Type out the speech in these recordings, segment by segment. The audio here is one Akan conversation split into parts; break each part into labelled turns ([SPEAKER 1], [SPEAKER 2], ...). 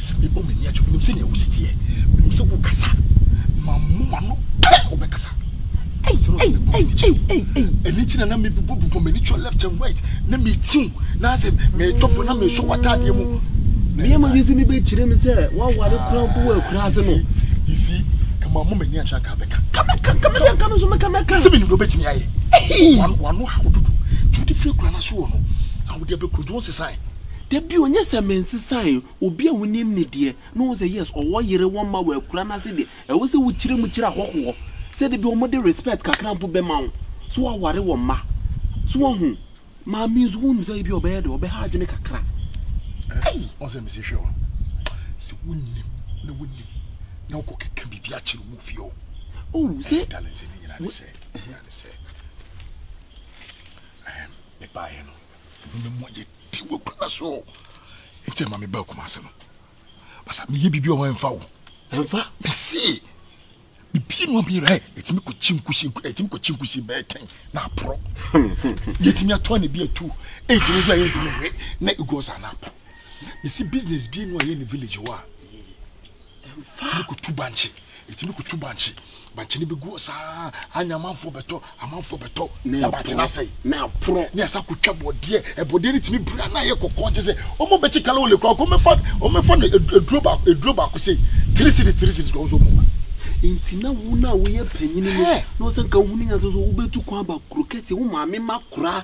[SPEAKER 1] Sɛ mebɔ m'ani
[SPEAKER 2] akyɛ, menim sɛnea wo si teɛ. Menim sɛ wokasa, mammu w'ano pɛ wobɛkasa. Ɛnti na mebɔ m'ani kyɛ. Ɛno nti na na mebobɔ bobɔ m'ani kyɛ left and right na metiw na sɛ metɔfo na mesɔ w'ataadeɛ mu. Mmarima bi nso
[SPEAKER 1] mi bɛkyerɛ mi sɛ waware kura mpo wɔ akura ase no. You see, ɛma mo m'ani akyɛ anka bɛka. Kamɛka kamɛka kamɛka nso mɛka mɛka. Sɛ menim deɛ wobɛtumi ayɛ. Wano ha wododo. Nti wode firi kura no ase wɔ no. Awode abɛkuro nti wo nsesae. Da bio, nyɛ sɛ mensesae obi a wonim no deɛ, na ɔhu sɛ yes, ɔwɔ yere, wɔn mma, wɔakura no ase deɛ, ɛwɔ sɛ wokyerɛ mu kyerɛ ahɔhoɔ sɛ da bi wɔde respect kakra mpo bɛma wo, sɛ woaware wo mma. So woahu? Maame nso, wonim sɛ ebi a ɔbɛyɛ dɛ, ɔbɛha adwene kakra. Ei! Ɔn sɛ mese hwɛ o, sɛ wonim na wonim na wokɔkeka biribi akyerɛ mu fie o. Oh, sɛ. Eh, darling, sɛ ne nyina ne sɛ, ne nyina ne sɛ, eh, mebaeɛ no, Amumuyɛ ti wɔ kura so nti ɛma me baa Kumase no basa meyɛ biribi ɔwɔ ɛmfa wo ɛmfa mese bibie no abɛyɛ ɛ ɛtumi kɔkyi nkusi ɛtumi kɔkyi nkusi bɛyɛ tɛn na aporɔ yɛtumi atɔ ne bi atu ɛtumi nso a yɛntumi hwɛ na ɛgu ɔsa na aporɔ mese business bi no a yɛ ne village hɔ a ɛtumi kutu bankye ɛtumi kutu bankye bankye no bi gu saa anya amanfoɔ bɛtɔ amanfoɔ bɛtɔ na bankye no asɛe na aporɔ ne ɛsa kotwa bɔdeɛ ɛbɔdeɛ no tumi bira na ayɛ kɔkɔɔ gye sɛ ɔmo bɛkye kala wɔ lekura kɔmɛfa ɔmɛfa no aduro baako aduro baako sɛ tiri siri tiri siri na ɔmo nso ɔmo ma nti na wo na woyɛ panyini no na ɔsɛ nka wohunu nya so so wobɛtu kwan ba kuro kɛse wo maame ma kora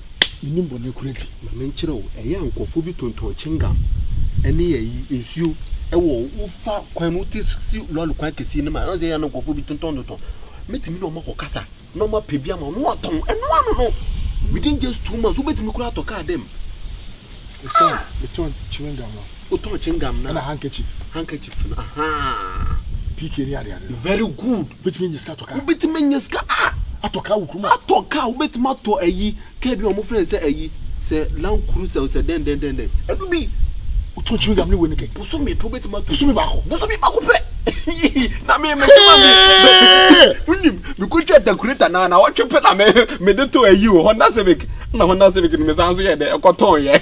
[SPEAKER 1] Menim bɔne koro nti, ma menkyerɛ wo. Ɛyɛ a nkurɔfoɔ bi tontɔn chingam ne ayi nsuo wɔ wofa kwan mu te si lɔre kwan kɛseɛ no mu a ɛwɔ sɛ ɛyɛ a na nkurɔfoɔ bi tontɔn tontɔn. Mɛtumi ne wɔn akɔ kasa na wɔn apɛ bi ama wɔn na wɔatɔn ɛno ano no. Within just two months, wobɛtumi koraa atɔ kaa dɛm. Wotɔn chewing gum no. Wotɔn chewing gum no. Ɛna handkerchief. Handkerchief no. Ahaa. PK ni ade ade. Very good. Wobɛtumi anya sika atɔ kaa. Wobɛtumi anya sika a. Atɔ kaa wɔ kurom a. Atɔ kaa, wobɛtumi atɔ ayi, kaa bi a wɔfrɛ no sɛ ayi, sɛ Land Cruiser o, sɛ dɛn dɛn dɛn dɛn, ɛno bi. Wotɔn chewing gum ne wei ne kɛ. Bosome pɛ wobɛtumi atɔ. Bosome baako. Bosome baako pɛ. Na me me kama me. Wonim, mekɔtwa takureta na na wɔtwe pɛ na me mede tɔ ayi o, Honda Civic. Na Honda Civic no mesan so yɛ dɛ, ɛkɔtɔn yɛ.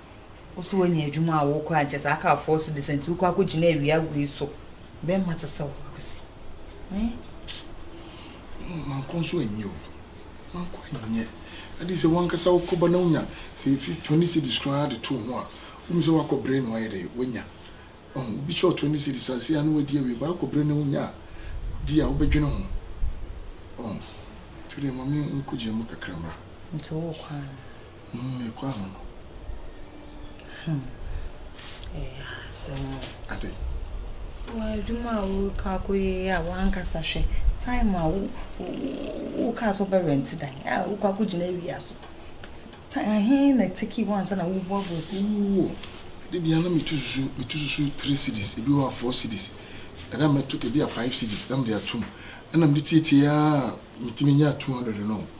[SPEAKER 3] Wo so woanya adwuma a wokɔ a nkyɛ saa car four cedis a nti wokɔ akɔgyina awia agu yi so. Bɛmma te sɛ wo akwasi. Hmm?
[SPEAKER 2] Manko nso anyɛ o. Manko anyɛ. Adi sɛ wankasa wokɔba na wonya sɛ efi twenty cedis koraa de to ho a, wohu sɛ wakɔ bere na wayɛ dɛ wanya. Ɔho, obi kyerɛ twenty cedis a sei a na wadi awie paa, akɔ bere na wonya a, di a wobɛdwene ho. Ɔho, nti wodeɛ ma me nkɔgyina mu kakra mmra. Nti wokɔ a.
[SPEAKER 3] Me kɔ
[SPEAKER 2] ano no. Hmm.
[SPEAKER 3] Ɛyɛ asɛm o.
[SPEAKER 2] Ade. Wɔ
[SPEAKER 3] adwuma a woreka akɔyɛ yi a wankasa hwɛ time a wokaa sɛ wobɛrɛnte dan a wokɔ akɔgyina awia so. Ahe na tiki hɔ ansa na woboaboa so. Woo. De bia
[SPEAKER 2] na metu susu metu susu three cities ebi wɔ a four cities ɛna mɛto ebi a five cities na mede atom ɛna mede tietie a metumi nya two hundred no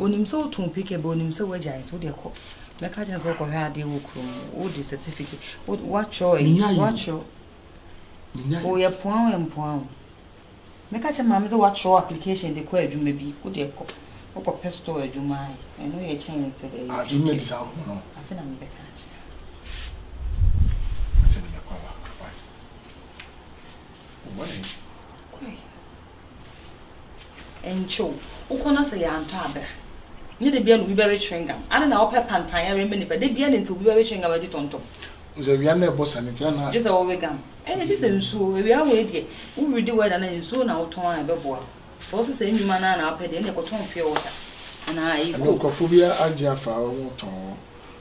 [SPEAKER 2] onim sɛ
[SPEAKER 3] wotu wo picture bɛ onim sɛ woagya nti wodeɛ kɔ mɛka kyerɛ sɛ wokɔhwɛ adeɛ wɔ kurom wode certificate woatwerɛ woatwerɛ woyɛ poa wo mpoa wo mɛka kyerɛ maame sɛ woatwerɛ application de kɔ adwuma bi wodeɛ kɔ wokɔpɛ store adwuma ayɛ ɛno yɛ kyɛn sɛ dɛ
[SPEAKER 2] afei na mebɛka
[SPEAKER 3] akyerɛ
[SPEAKER 2] What?
[SPEAKER 3] Nkyoo, wo kɔn ase yɛ antɔ abira. Nyɛ da biara na obi bɛwe chewing gum. Adɛn na wopɛ pantan ara ma nipa? Da biara na nti obi bɛwe chewing gum adi tɔntɔm. Wohu sɛ awia na ɛbɔ
[SPEAKER 2] sa no nti ana. Gye sɛ wowe gum. Ɛnde
[SPEAKER 3] gye sɛ nsuo. Awia wei deɛ, wo ready weather no a, nsuo na wotɔn a ɛbɛboa wo. Sɛ wo se saa nnwuma no ara na wopɛ deɛ, ɛnneɛ kɔtɔn pure water anaa ɛyi coke. Ɛno nkurɔfoɔ bi agye
[SPEAKER 2] afa hɔ, wɔtɔn hɔ.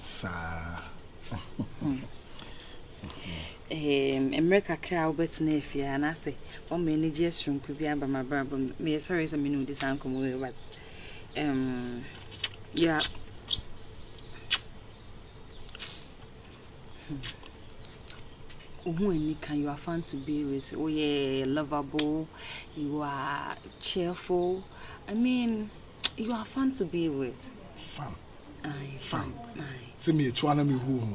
[SPEAKER 3] saa. mmerɛ kakra a wobɛtena afie anaasɛ wɔma anigyeɛ soronko bi aba mabrabɔ mu meyɛ sɔre sɛ mene wodi saa nkɔmmɔ wei but um, yeah. wohu ani ka you are fun to be with oh yeah lovable you are cheerful i mean you are fun to be with fun fan
[SPEAKER 2] sɛ meetu
[SPEAKER 3] ana
[SPEAKER 2] mehu ho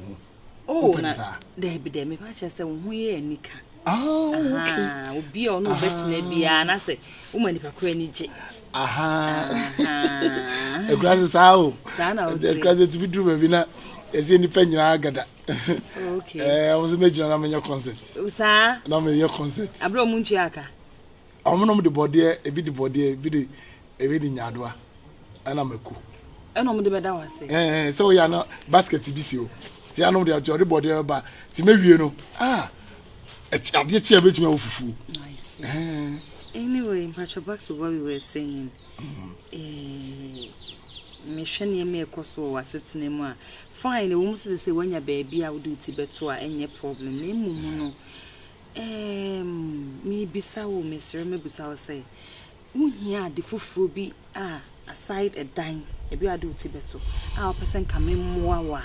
[SPEAKER 2] ho wopɛ ne saa
[SPEAKER 3] daabi dɛ meba kyerɛ sɛ wo ho yɛ anika
[SPEAKER 2] obi a ɔne wobɛtena
[SPEAKER 3] biara na sɛ woma nipa koro ani gye
[SPEAKER 2] ɛkura sɛ saa o ɛkura sɛ tumi duru baabi na ɛsɛ nipa nyinaa gada ɛwɔ sɛ mɛgyina na menyɛ concert na meyɛ
[SPEAKER 3] concert
[SPEAKER 2] aberɛ ɔmo ntua aka
[SPEAKER 3] Wɔnom
[SPEAKER 2] de bɔdeɛ, ebi de bɔdeɛ, ebi de ebi de nyaadoa ɛna mako. Ɛna wɔn de bɛda
[SPEAKER 3] wɔ ase. Ɛɛ eh, eh, sɛ ɔyɛ ana
[SPEAKER 2] basket bi si o ti anom de ɔde bɔdeɛ bɛba ti mewie no ah adeɛ kyi a bɛtumi awɔ fufuo.
[SPEAKER 3] Nice. Eh. Anyway, Mpacho, back to what we were saying. Mm. Eh, mehwɛ nneɛma ɛkɔ so wɔ w'asetena mu a fine na wɔn sisi sɛ wanya baabi a wode ti bɛto a ɛnyɛ problem na emu mu no Eeemm mebisa wo mesrɛ mɛbisa wo sɛ wohia ade foforɔ bi a aside ɛdan ebi a wode wo ti bɛto a wopɛ sɛ nka memmoa wo a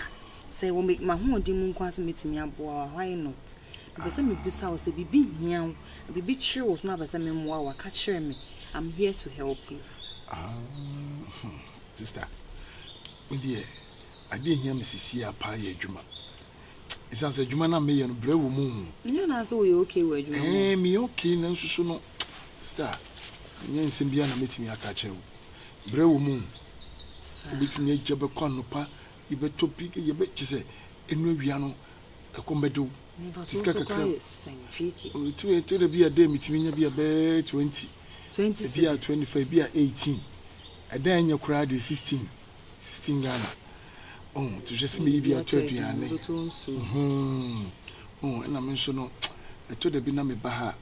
[SPEAKER 3] sɛ wɔ m'ahoɔden mu nko ara sɛ mɛtumi aboa wo a why not mepɛ sɛ mebisa wo sɛ biribi hia wo biribi kyere wo so na wopɛ sɛ memmoa wo a ka kyerɛ me I'm here to help you Ah, hmm,
[SPEAKER 2] sister, me deɛ adeɛ hia me sisi a paa yɛ adwuma. ɛsiane sɛ adwuma no a meyɛ no brɛ wɔ mu. Nyɛ naa sɛ woyɛ okay
[SPEAKER 3] wɔ adwuma mu. Ɛɛ meyɛ okay nanso so
[SPEAKER 2] no star ɛnyɛ nsɛm biara na mɛtumi aka akyerɛ wo. Brɛ wɔ mu. Wobɛtumi agya bɛkɔ anɔpa yi bɛtɔ bi yɛbɛ kyɛ sɛ ɛnu awia no ɛkɔm bɛde wo. Nti sika kakra ɔtumi ɛtɔ da bi a dɛ metumi nya bi a bɛɛ twenty ebi a twenty five ebi a eighteen ɛdan nyɛ koraa deɛ sixteen sixteen ghana ɔn ti hwɛ sɛ meyi bi ato aduane ɔn ɛna me nso no ɛtɔ da bi na meba ha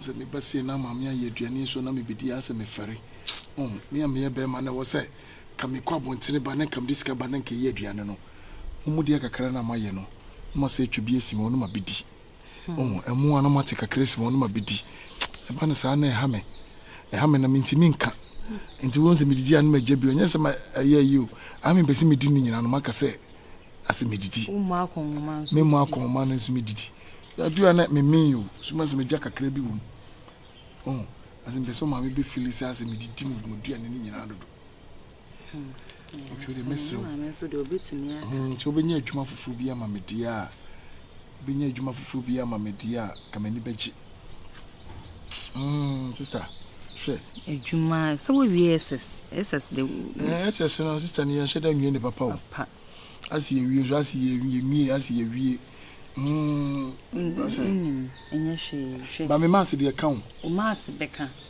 [SPEAKER 2] sɛ meba sie na maame ayɛ aduane nso na mebɛdi asɛ mefɛre ɔn me a meyɛ bɛrima na ɛwɔ sɛ ka mekɔ abɔntene ba ne nka mede sika ba ne nka ɛyɛ aduane no mo mu deɛ kakra na moayɛ no na moasɛ atwa bi asi ma ɔno ma bɛdi Ɔhu ɛmo a na mate kakra si wɔn na mabɛdi. Ɛba no saa na ɛha me. Ɛha me na mentimi nka. Nti wɔn sɛ medidi a na magya bi. Ɔnyɛ sɛ ɛyɛ yi o. Aha mempɛ sɛ medi ne nyinaa no maka sɛ asɛ medidi. Memmɔ akɔnhoma no nso medidi. Adu a na memen o. So ma sɛ magya kakra bi wɔ mu. Ɔhu asɛ mpɛ sɛ ɔmaame bɛfili sɛ asɛ medidi me duane no nyinaa dodo. nti wode mɛsrɛ sɛ wobɛnya adwuma foforɔ bi ama medeɛ a wobɛnya adwuma foforɔ bi ama medeɛ a ka m'ani bɛgye hmm, sister hwɛ
[SPEAKER 3] adwuma sɛ wowie ss ss de ss no
[SPEAKER 2] sister ne yɛnhyɛ da nwie ne papa o ase yɛwie so ase yɛmie ase yɛwie hmm, ɛnyɛ hwee hwɛ ba me maase deɛ ka wo maase bɛka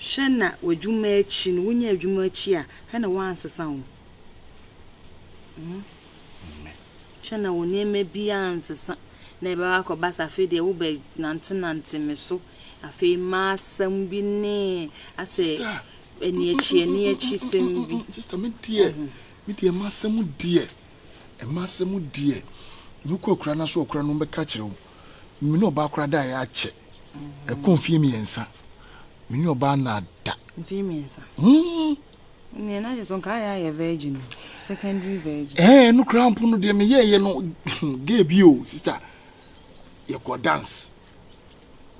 [SPEAKER 2] Hwɛ na w'adwuma akyi no, wonya adwuma akyi a, hwɛ na woansesa wo. Hwɛ na wo nneɛma bi ansesa na ɛbɛba akɔba sɛ afei deɛ wobɛnantenante me so. Afei ma asɛm bi ne asɛ ɛne akyi ɛne akyi sɛm bi. Sista me deɛ, me deɛ ma asɛm deɛ, ɛma asɛm deɛ, mekɔ akura no so ɔkura no bɛka kyerɛ wo. me ne ɔbaa koraa daeɛ akyɛ ɛkɔ mfeɛ mmiɛnsa me ne ɔbaa na ada mfeɛ mmiɛnsa
[SPEAKER 3] hmm. nea na yɛ so nka ayɛ ayɛ virgin no secondary virgin ɛɛ no koraa mpo no
[SPEAKER 2] deɛ meyɛɛyɛ no gay bi o sister yɛkɔ dance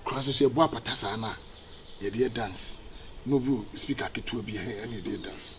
[SPEAKER 2] koraa so so yɛbɔ apata saa no a yɛdeɛ dance no bi speaker ketewa bi ɛne yɛdeɛ dance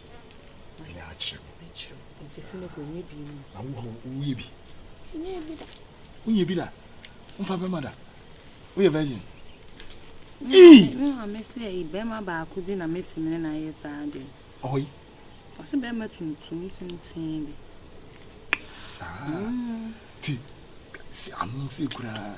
[SPEAKER 3] Manya akyerɛ wo. Nti Philip ɔnyɛ bi mu. Na wo hɔ woyɛ bi? Nyɛ bi
[SPEAKER 2] da. Wonyɛ bi da? Womfa bɛma da? Woyɛ virgin? Ee! Me hɔ
[SPEAKER 3] me sɛ bɛma baako bi na mɛtumi ne no ayɛ saa adeɛ. Ɔhɔ yi?
[SPEAKER 2] Ɔsɛ bɛma
[SPEAKER 3] tuntum tenten bi.
[SPEAKER 2] Saa? Ti, si ano sɛ kuraa.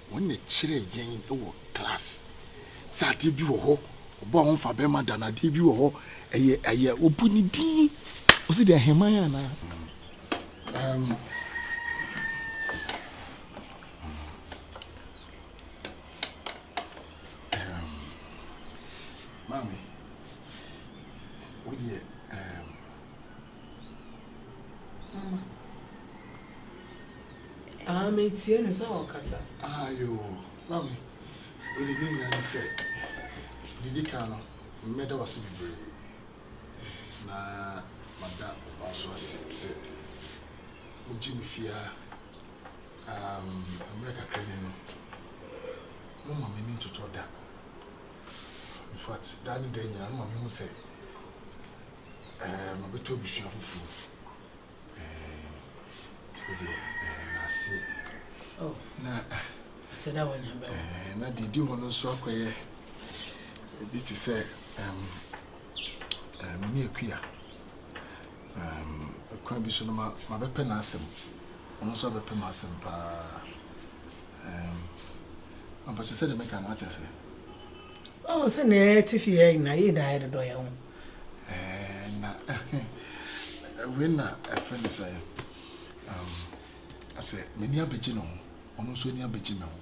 [SPEAKER 2] Wɔn na ɛkyerɛɛ yɛn wɔ class sɛ adeɛ bi wɔ hɔ ɔbɔ ho fa bɛrima da no adeɛ bi wɔ hɔ ɛyɛ ɛyɛ obu ne din ɔsi deɛ heman anaa um, maame wodeɛ um, Mama.
[SPEAKER 4] Ah, me tie no sɛ ɔkasa. Ah, yo,
[SPEAKER 2] mami. Wode ne nyinaa ne sɛ, didi kan no, mmɛda wase bebree. Na mada ɔba nso ase sɛ, mogye me fie a, um, mmerɛ kakra ni no, moma m'ani ntotɔ da. In fact, daa ne daa nyinaa, moma mehu sɛ, Ɛɛ mabɛtɔ abusua foforɔ ɛɛ ti deɛ ɛɛ n'ase oh.
[SPEAKER 4] na
[SPEAKER 2] ɛsɛ dɛ
[SPEAKER 4] wɔnya bɛn ɛɛ na deɛ di
[SPEAKER 2] hɔ no
[SPEAKER 4] nso
[SPEAKER 2] akɔyɛ ebi te sɛ ɛɛm ɛɛ me ne akuya ɛɛm kwan bi so no ma mabɛpɛ n'asɛm ɔno nso abɛpɛ m'asɛm paa ɛɛm ampakyɛ sɛ deɛ mɛka no ate aseɛ
[SPEAKER 4] Oh sɛ na yɛ te fie yɛ na yɛ na yɛ dodɔ yɛ ho. Eh na
[SPEAKER 2] we na ɛfɛ ne sɛ um asɛ m'ani abɛgye ne ho ɔno nso ani abɛgye me ho.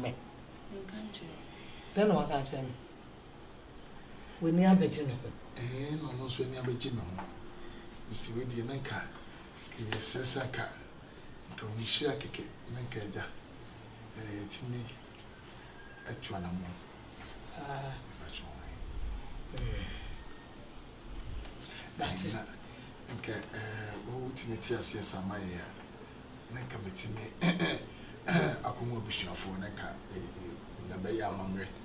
[SPEAKER 4] Me. Dɛn na waka akyerɛ me?
[SPEAKER 2] W'ani abɛgye ne ho. Eh na ɔno nso ani abɛgye me ho. Nti wei deɛ na nka Nka yɛ srɛ sɛ aka nka wo nhyira kɛkɛ na nka agya eh yɛtumi atu anamɔ saa mpakyɛ wo he eh na nka eh wo wotumi te aseɛ saa ma yɛ a na nka metumi akɔhu abusuafoɔ na nka yɛbɛyɛ amammerɛ.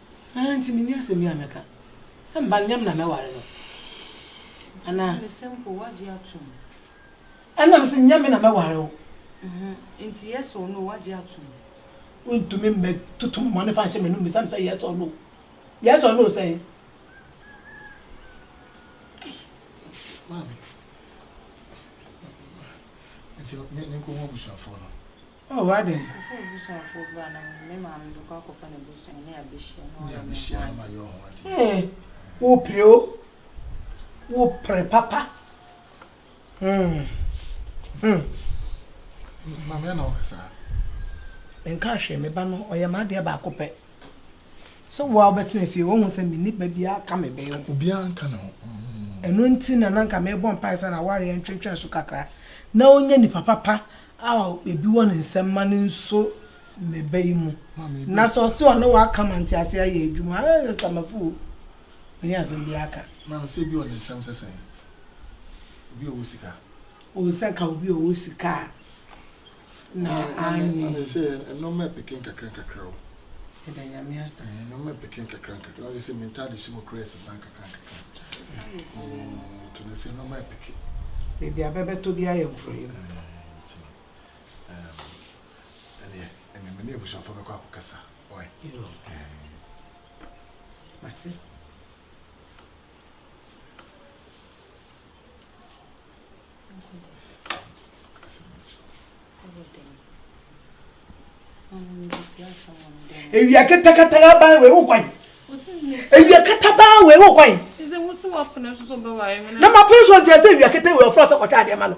[SPEAKER 2] Aane nti menni
[SPEAKER 4] asɛm bi a mɛka. Sɛ meba no, nyɛ me na mɛware no anaa? Nti mese mpo
[SPEAKER 3] woagye atom? Ɛna
[SPEAKER 4] mese nyɛ me na mɛware wo. Nti
[SPEAKER 3] yes or no woagye atom? Wontumi
[SPEAKER 4] mmɛtoto mmɔne fa nhyɛ m'anom bisa me sɛ yes or no. Yes or no sɛn?
[SPEAKER 2] Maame, nti menkɔhu abusuafoɔ no? Oh, adɛn?
[SPEAKER 4] Ɔsɛ abusuafoɔ
[SPEAKER 3] bra na me maame bɛkɔ akɔfa n'abusua ne abɛhyia na wayɛ me
[SPEAKER 2] ho ade. Ee,
[SPEAKER 4] wopere o. Wopere papa. Hmm.
[SPEAKER 2] Hmm. Maame na ɔka saa.
[SPEAKER 4] Nka hwee me ba no ɔyɛ m'adeɛ baako pɛ. Sɛ wo a wobɛtena fie wɔhu sɛ menni ba biara ka me bɛn ho. Obiara nka ne ho.
[SPEAKER 2] Ɛno nti
[SPEAKER 4] na nanka mebɔ mpae sɛ na awareɛ ntwentwɛn so kakra na ɔnya nipa papa a ebi wɔ ne nsam ma no nso mmeba yi mu na sɛ ɔse ɔne waka ma ntease ayɛ adwuma ayɛ samafo o mene asɛm bi aka na sɛ ebi wɔ ne nsam
[SPEAKER 2] sɛ sɛn obi a ɔwɔ sika o sɛ ka
[SPEAKER 4] obi a ɔwɔ sika a na
[SPEAKER 2] anyɛ sɛ ɛnɔma ɛpeke nkakra nkakra o Ɛda nyame asa.
[SPEAKER 4] Eh, no me peke nkakra
[SPEAKER 2] nkakra. Ɔsɛ sɛ mentade hyɛ mu kora ɛsesa nkakra nkakra. Mm, to no sɛ no me peke. Baabi a
[SPEAKER 4] bɛbɛtɔ bi ayɛ mfrɛ mu. Nti no.
[SPEAKER 2] Ɛneɛ, ɛne me ne abusuafo bɛkɔ akɔkasa. Ɔe. Yo.
[SPEAKER 4] Mate. ewia katakata aban wei wo kwan ewia kata ban wei wo kwan
[SPEAKER 3] na ma pere so nti
[SPEAKER 4] ɛsɛ ewia kata wei ɔfra sɛ kɔtwa adeɛ ma no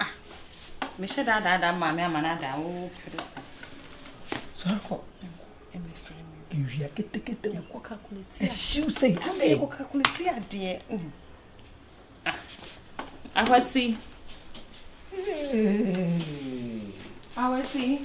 [SPEAKER 3] Ah, mehyɛ da adaadaa maame ama no adaa wo pere sa. Sɔre
[SPEAKER 4] kɔ. Ɛmɛ
[SPEAKER 3] firi mi. Ewia ketekete.
[SPEAKER 4] Ɛkɔ kakuleti adeɛ.
[SPEAKER 3] Ɛhyiw sɛ yɛ adeɛ.
[SPEAKER 4] Ɛkɔ kakuleti
[SPEAKER 3] adeɛ. Ah, awasi. Awasi.